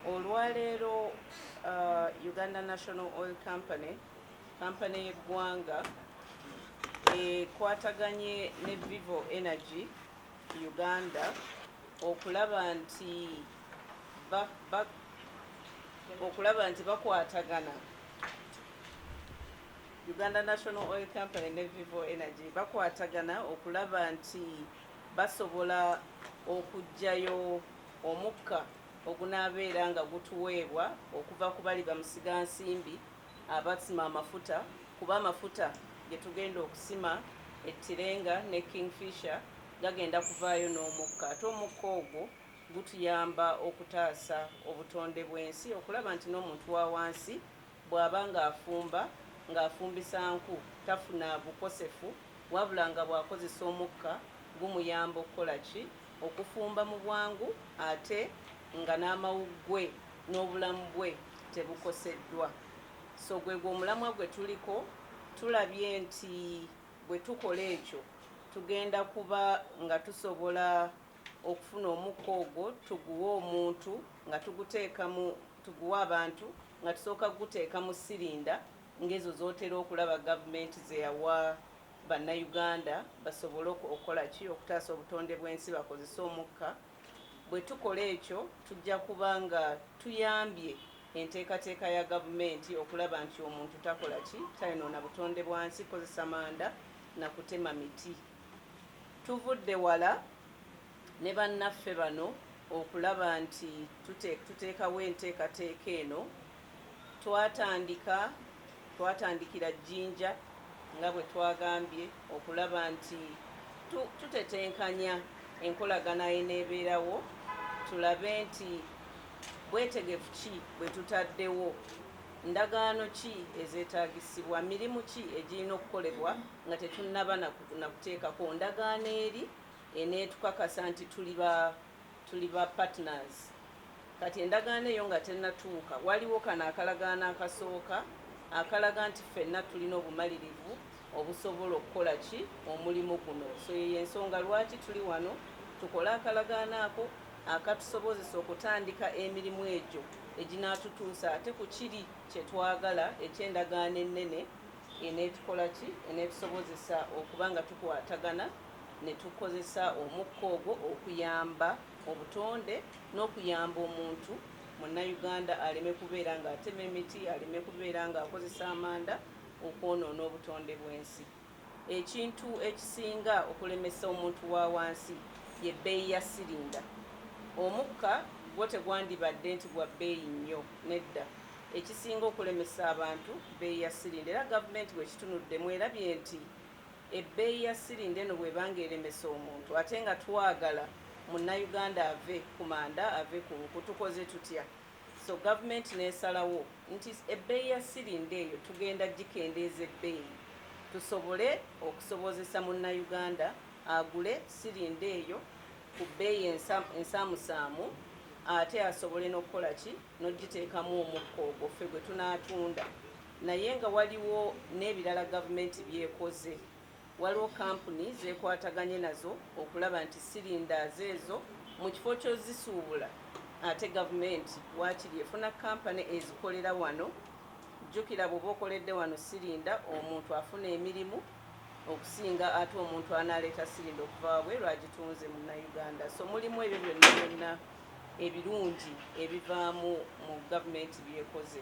Olwaleero uh, Uganda National Oil Company kampani y'eggwanga ekwataganye ne Vivo Energy Uganda okulaba nti ba, ba, okulaba nti bakwatagana Uganda National Oil Company ne Vivo Energy bakwatagana okulaba nti basobola okujjayo omukka ogunaabeera nga gutuweebwa okuva ku bali bamusigansimbi abasima amafuta kuba amafuta ge tugenda okusima e Tirenga ne Kingfisher gagenda kuvaayo n'omukka ate omukka ogwo gutuyamba okutaasa obutonde bw'ensi okulaba nti n'omuntu wa wansi bw'aba ng'afumba ng'afumbisa nku tafuna bukosefu wabula nga bw'akozesa omukka gumuyamba okukola ki okufumba mu bwangu ate nga n'amawuggwe n'obulamu bwe tebukoseddwa. So gwegwo omulamwa gwe tuliko, tulabye nti bwe tukola ekyo tugenda kuba nga tusobola okufuna omukka ogwo tuguwe omuntu nga tuguteeka mu tuguwe abantu nga tusooka kuguteeka mu sirinda ng'ezo z'otera okulaba gavumenti ze yawa Bannayuganda basobole okukola ki okutaasa obutonde bw'ensi bakozese omukka. Bwe tukola ekyo tujja kuba nga tuyambye enteekateeka ya gavumenti okulaba nti omuntu takola ki tayonoona butonde bwa nsi kozesa manda na kutema miti. Tuvudde wala ne bannaffe bano okulaba nti tuteekawo enteekateeka eno. Twatandika twatandikira Jinja nga bwe twagambye okulaba nti tu, tutetenkanya enkolagana eneebeerawo tulabe nti bwetegefu ki bwe tutaddewo ndagaano ki ezeetaagisibwa mirimu ki egirina okukolebwa nga tetunnaba na kuteekako ndagaano eri eneetukakasa nti tuli ba tuli ba partners kati endagaano eyo nga tennatuuka waliwo kano akalagaano akasooka akalaga nti ffenna tulina obumalirivu obusobola okukola ki omulimu guno so yeyo ensonga lwaki tuli wano tukole akalagaano ako akatusobozesa okutandika emirimu egyo eginaatutuusa ate ku kiri kye twagala eky'endagaano ennene eneetukola ki? Eneetusobozesa okuba nga tukwatagana ne tukozesa omukka ogwo okuyamba obutonde n'okuyamba omuntu munnayuganda aleme kubeera ng'atema emiti aleme kubeera ng'akozesa amanda okwonoona obutonde bw'ensi ekintu ekisinga okulemesa omuntu wa wansi ye bbeeyi ya sirinda omukka gwo tegwandibadde nti gwa bbeeyi nnyo nedda Ekisinga okulemesa abantu bbeeyi ya sirinda era gavumenti bwekitunudde mwerabye nti ebbeeyi ya sirinda eno bweba nga eremesa omuntu ate nga twagala munnayuganda ave ku manda ave ku nku tukoze tutya? So gavumenti nesalawo nti ebbeeyi ya sirinda eyo tugenda gikendeeza ebbeeyi tusobole okusobozesa munnayuganda agule sirinda eyo ku bbeeyi ensaamusaamu ate asobole n'okukola ki? n'ogiteekamu omukka ogwo ffe gwe tunaatunda naye nga waliwo n'ebirala gavumenti byekoze waliwo kampuni zekwataganye nazo okulaba nti sirindaazo ezo mu kifo kyozisuubula ate gavumenti waakiri efuna kampani ezikolera wano jjukira bw'oba okoledde wano sirinda omuntu afuna emirimu okusinga ate omuntu anaaleeta sirinda okuvaabwe lwagitunze munnayuganda so mulimu ebyo byonna byonna ebirungi ebivaamu mu gavumenti by'ekoze.